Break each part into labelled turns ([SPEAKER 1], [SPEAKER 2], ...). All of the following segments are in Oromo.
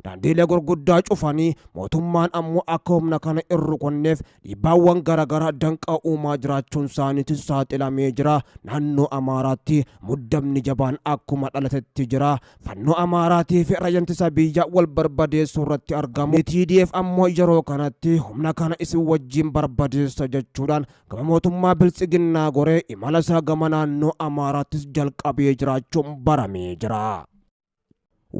[SPEAKER 1] daandiilee gurguddaa cufanii mootummaan ammoo akka humna kana hin rukunneef dhiibbaawwan garaagaraa danqaa uumaa jiraachuun isaaniitis saaxilamee jira. Naannoo Amaaraatti muddamni jabaan akkuma dhalatetti jira. Fannoo Amaaraatii fi raayyaa ittisa biyyaa wal barbadeessuu irratti argamu. TDF ammoo yeroo kanatti humna kana isin wajjin barbadeessa jechuudhaan gama mootummaa biltsiginnaa goree imala isaa gama naannoo Amaaraattis jalqabee jiraachuun baramee jira.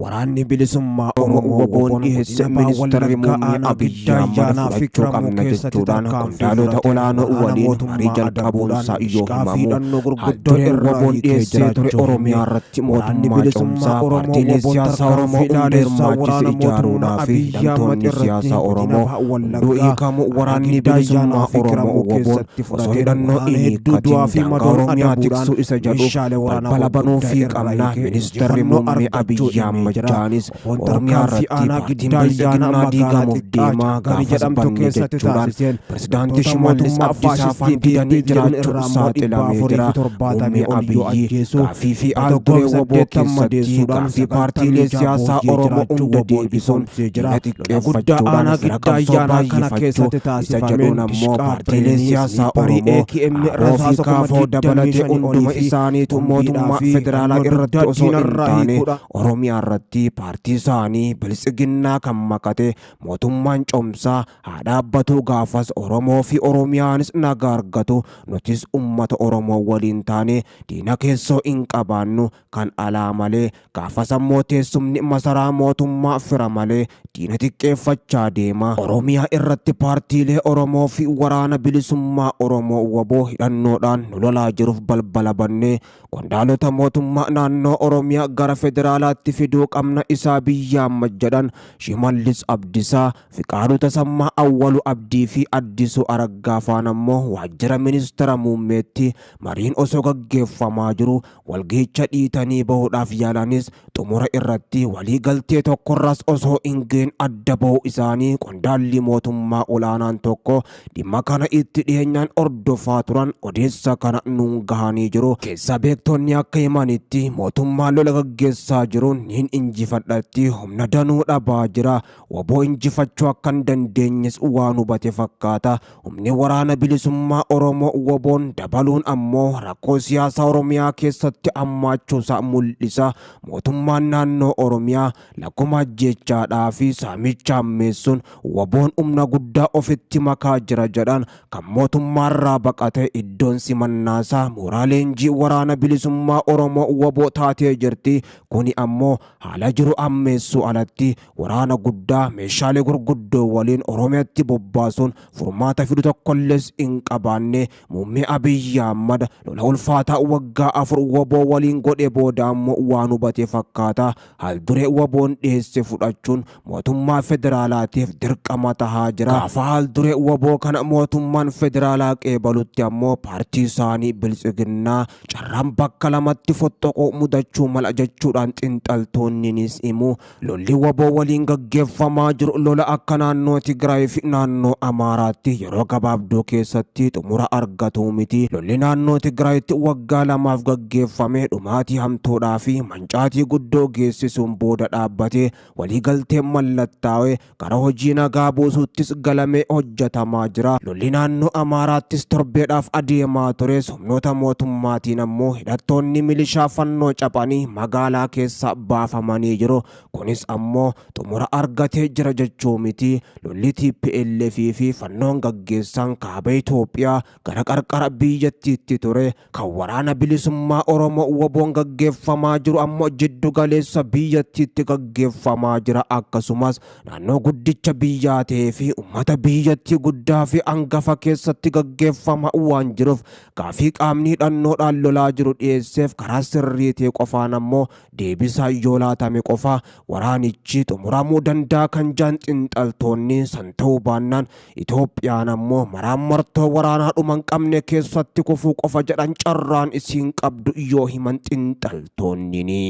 [SPEAKER 1] Waraanni bilisummaa Oromoo waboon dhiheesse ministeerri muummee Abiyyi Ahmad fudhachuu qabna jechuudhaan qondaalota olaanoo waliin marii jalqabuunsaa yoo himamu haaldureen waboon dhiheessee ture Oromiyaa irratti mootummaa cimsaa paartiilee siyaasaa Oromoo hunda hirmaachise ijaaruudhaaf hidhamtoonni siyaasaa Oromoo hunduu hiikamu waraanni bilisummaa Oromoo waboon Osoo hidhannoo hin hiikkatiin daangaa Oromiyaa tiksuu isa jedhu balbala banuufii qabna. Ministarri Muummee Abiyyi Ahmajjaanis Oromiyaa irratti paartiin Bilxiginnaa diigamuuf deema gaafas banne jechuudhaan Pirezidaantii Shimallis Abdiisaa faan didanii jiraachuun saaxilamee jira. Muummee Abiyyi gaaffii fi aal-duree wbo keessatti gaaffii paartiilee siyaasaa Oromoo hunda deebisuun diina guddaa aanaa giddaa ayyaanaa kana keessatti taasifameen dishqaa siyaasaa Oromoo Abbootii kaafoo dabalatee hunduma isaaniitu mootummaa federaalaa irratti osoo hin taane Oromiyaa irratti paartii isaanii bilisiginnaa kan makate mootummaan cimsaa haa dhaabbatuu gaafas Oromoo fi Oromiyaanis nagaa argatu nutis ummata Oromoo waliin taane diina keessoo hin qabaannu Kan alaa malee gaafas ammoo teessumni masaraa mootummaa fira malee diina xiqqeeffachaa deema. Oromiyaa irratti paartiilee Oromoo fi Waraana Bilisummaa Oromoo wbo hidhannoodhaan nu lolaa jiruuf balbala bannee qondaalota mootummaa naannoo Oromiyaa gara federaalaatti fiduu qabna isaa biyyaa majjadhan Shimallis Abdisaa, Fiqaaduu Tasammaa, Awwaluu Abdii fi Addisuu Araggaa faan ammoo waajjira ministera muummeetti mariin osoo gaggeeffamaa jiruu Walgahicha dhiitanii bahuudhaaf yaalanis xumura irratti walii galtee tokkorras osoo hin ga'in adda bahuu isaanii qondaalli mootummaa olaanaan tokko dhimma kana itti dhiyeenyaan hordofaa turan odeessa kana nuun gahanii jiru. Keessa beektonni akka himanitti mootummaan lola gaggeessaa jiruun niin injifadhatti humna danuu dhabaa jira. wbo injifachuu akka hin dandeenyes waan hubate fakkaata. Humni waraana bilisummaa Oromoo wboon dabaluun ammoo rakkoo siyaasaa Oromiyaa keessatti hammaachuusaa mul'isa. Mootummaan naannoo Oromiyaa lakkuma ajjeechaadhaa fi saamicha hammeessuun wboon humna guddaa ofitti makaa jira jedhan kan mootummaarraa baqate iddoon simannaasaa mooraa leenjii waraana bilisummaa Oromoo wbo taatee jirti. Kuni ammoo Haala jiru ammeessuu alatti waraana guddaa meeshaalee gurguddoo waliin Oromiyatti bobbaasuun furmaata fidu tokkollees hin qabaanne Muummee Abiyyi Ahmad lola ulfaataa waggaa afur wbo waliin godhe booda ammoo waan hubate fakkaata. Haal duree wboon dhiheesse fudhachuun mootummaa federaalaatiif dirqama tahaa jira. Gaafa haalduree waboo kana mootummaan federaalaa qeebalutti ammoo paartii isaanii biltsiginnaa carraan bakka lamatti fottoquu mudachuu mala jechuudhaan xinxaltoonninis himu. Lolli waboo waliin gaggeeffamaa jiru lola akka naannoo Tigraay fi naannoo Amaaraatti yeroo gabaabduu keessatti xumura argatuu miti. Lolli naannoo Tigraayitti waggaa lamaaf gaggeeffame dhumaatii hamtuudhaa fi mancaatii guddoo geessisuun booda dhaabbate. Waliigalteen mallattaa'e gara hojii nagaa buusuuttis galamee hojjetamaa jira. Lolli naannoo Amaaraattis torbeedhaaf adeemaa tures humnoota mootummaatiin ammoo hidhattoonni milishaa fannoo caphanii magaalaa keessaa baafamanii jiru. Kunis ammoo xumura argatee jira jechuu miti. Lolli tplf fi fannoon gaggeessan kaaba Itoophiyaa gara qarqara biyyattiitti ture Kan waraana bilisummaa Oromoo waboon gaggeeffamaa jiru ammoo jiddu galeessa biyyattiitti gaggeeffamaa jira akkasumas naannoo guddicha biyyaa ta'ee fi ummata biyyattii guddaa fi angafa keessatti gaggeeffama waan jiruuf gaafii qaamni hidhannoodhaan lolaa jiru dhiyeesseef karaa sirrii ta'e qofaan ammoo deebisaa yoo laatame qofa waraanichi xumuramuu danda'a kan jaan xinxaltoonni san ta'uu baannaan Itoophiyaan ammoo maraammartoo waraanaa dhuma hin qabne keessatti kufuu qofa jedhan carraan isiin qabdu yoo himan xinxaltoonnini.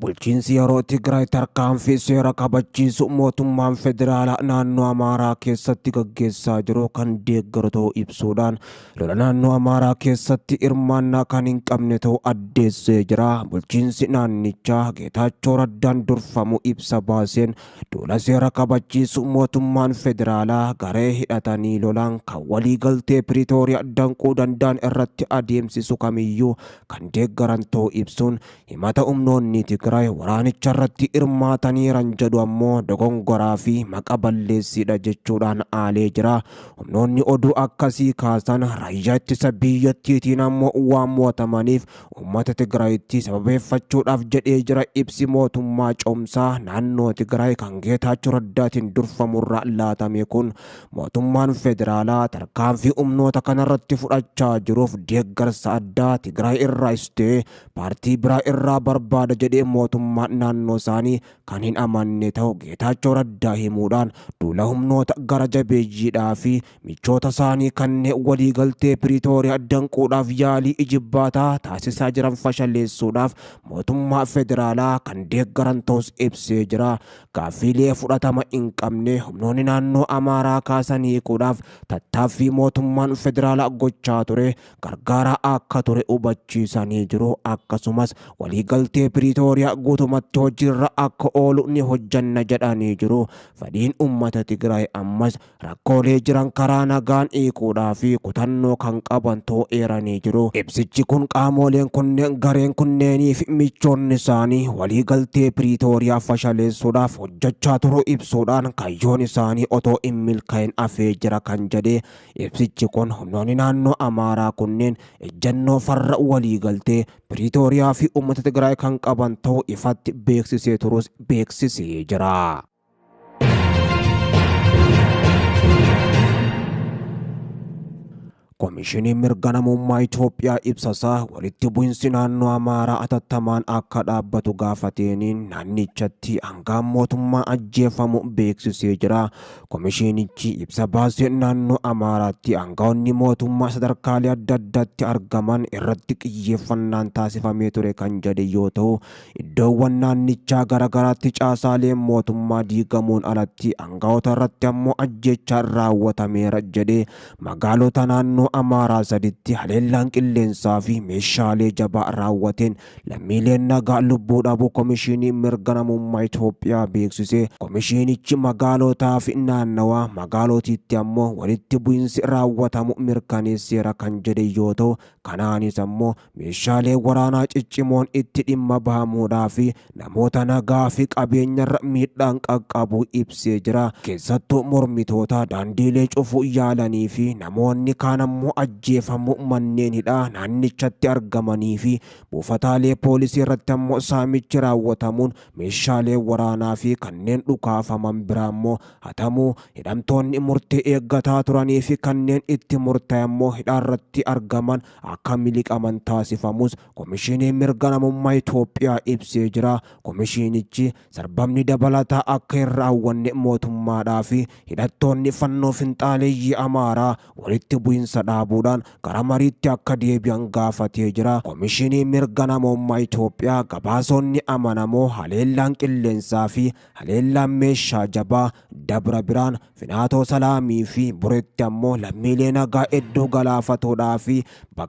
[SPEAKER 1] Bulchiinsi yeroo Tigraay tarkaanfii seera kabachiisu mootummaan federaalaa naannoo Amaaraa keessatti gaggeessaa jiru kan deeggaru ta'uu ibsuudhaan Lola naannoo Amaaraa keessatti hirmaannaa kan hin qabne ta'uu addeessee jira. Bulchiinsi naannichaa Geetaachoo Raddaan durfamu ibsa baaseen duula seera kabachiisuu mootummaan federaalaa garee hidhatanii lolaan kan waliigaltee Piriitooriyaa danquu danda'an irratti adeemsisu kamiyyuu kan deeggaran ta'uu ibsuun Himata humnoonni Tigraay waraanicharratti hirmaataniiran jedhu ammoo dogongoraa fi maqa balleessiidha jechuudhaan aalee jira. Humnoonni oduu akkasii kaasan raayyaa ittisa biyyattiitiin ammoo waan mo'atamaniif uummata Tigraayitti sababeeffachuudhaaf jedhee jira ibsi mootummaa cehumsaa naannoo Tigraay kan Geetaachoo Raddaatiin durfamurraa laatame kun mootummaan federaalaa tarkaanfii humnoota kanarratti fudhachaa jiruuf deeggarsa addaa Tigraay irraayis ta'e paartii biraa irraa barbaada jedhee mootummaan naannoo isaanii kan hin amanne ta'u Geetaachoo Raddaa himuudhaan duula humnoota gara jabeeyyiidhaa fi michoota isaanii kanneen waliigaltee Piriitooriyaa danquudhaaf yaalii ijibbaataa taasisaa jiran fashaleessuudhaaf mootummaa federaalaa kan deeggaran ta'us ibsee jira. Gaaffiilee fudhatama hin qabne humnoonni naannoo Amaaraa kaasan hiikuudhaaf tattaaffii mootummaan federaalaa gochaa ture gargaaraa akka ture hubachiisanii jiru. Akkasumas waliigaltee Piriitooriyaa guutumatti hojiirra akka oolu ni hojjanna jedhanii jiru. Fedhiin uummata Tigraay ammas rakkoolee jiran karaa nagaan hiikuudhaa fi kutannoo kan qaban ta'uu eeranii jiru. Ibsichi kun qaamooleen kunneen gareen kunneenii fi michoonni isaanii waliigaltee Piriitooriyaa fashaleessuudhaaf hojjachaa turuu ibsuudhaan kayyoon isaanii otoo hin milkaa'in hafee jira kan jedhe Ibsichi kun humnoonni naannoo Amaaraa kunneen ejjannoo farra waliigaltee Piriitooriyaa fi uummata Tigraay kan qaban ta'uu ifatti beeksisee turus beeksisee jira. Komishiniin mirga namummaa Itoophiyaa ibsasaa walitti bu'insi naannoo Amaaraa atattamaan akka dhaabbatu gaafateeniin naannichatti hangaan mootummaa ajjeefamu beeksisee jira. Komishiinichi ibsa baaseen naannoo Amaaraatti aangawoonni mootummaa sadarkaalee adda addaatti argaman irratti xiyyeeffannaan taasifamee ture kan jedhe yoo ta'u, iddoowwan naannichaa garagaraatti caasaaleen mootummaa diigamuun alatti aangawoota irratti ammoo ajjeechaan raawwatameera jedhe. Magaalota naannoo Amaaraa saditti haleellaan qilleensaa fi meeshaalee jabaa raawwateen Lammiileen nagaa lubbuu dhabuu Komishiiniin Mirga Namummaa Itoophiyaa beeksise. Komishiinichi magaalootaa fi naannawaa magaalootiitti ammoo walitti bu'insi raawwatamu mirkaneesseera kan jedhe yoo ta'u, kanaanis ammoo meeshaalee waraanaa ciccimoon itti dhimma bahamuudhaa fi namoota nagaa fi qabeenyarra miidhaan qaqqabuu ibsee jira. Keessattuu mormitoota daandiilee cufuu yaalanii fi namoonni kaan ammoo ajjeefamuu manneen hidhaa naannichatti argamanii fi buufataalee poolisii irratti ammoo saamichi raawwatamuun meeshaalee waraanaa fi kanneen dhukaafaman biraa ammoo hatamuu hidhamtoonni murtee eeggataa turanii fi kanneen itti murtaa'e ammoo hidhaarratti argaman akka miliqaman taasifamus Komishiiniin Mirga Namummaa Itoophiyaa ibsee jira. Komishiinichi sarbamni dabalataa akka hin raawwanne mootummaadhaa fi hidhattoonni fannoo finxaaleeyyii Amaaraa walitti bu'insa dhaabuudhaan gara mariitti akka deebi'an gaafatee jira. Komishiiniin Mirga Namummaa Itoophiyaa gabaasonni amanamoo haleellaan qilleensaa fi haleellaan meeshaa jabaa Dabra Birhaan, Finaatoo Salaamii fi Bureetti ammoo lammiilee nagaa hedduu galaafatuudhaa fi bakkeewwan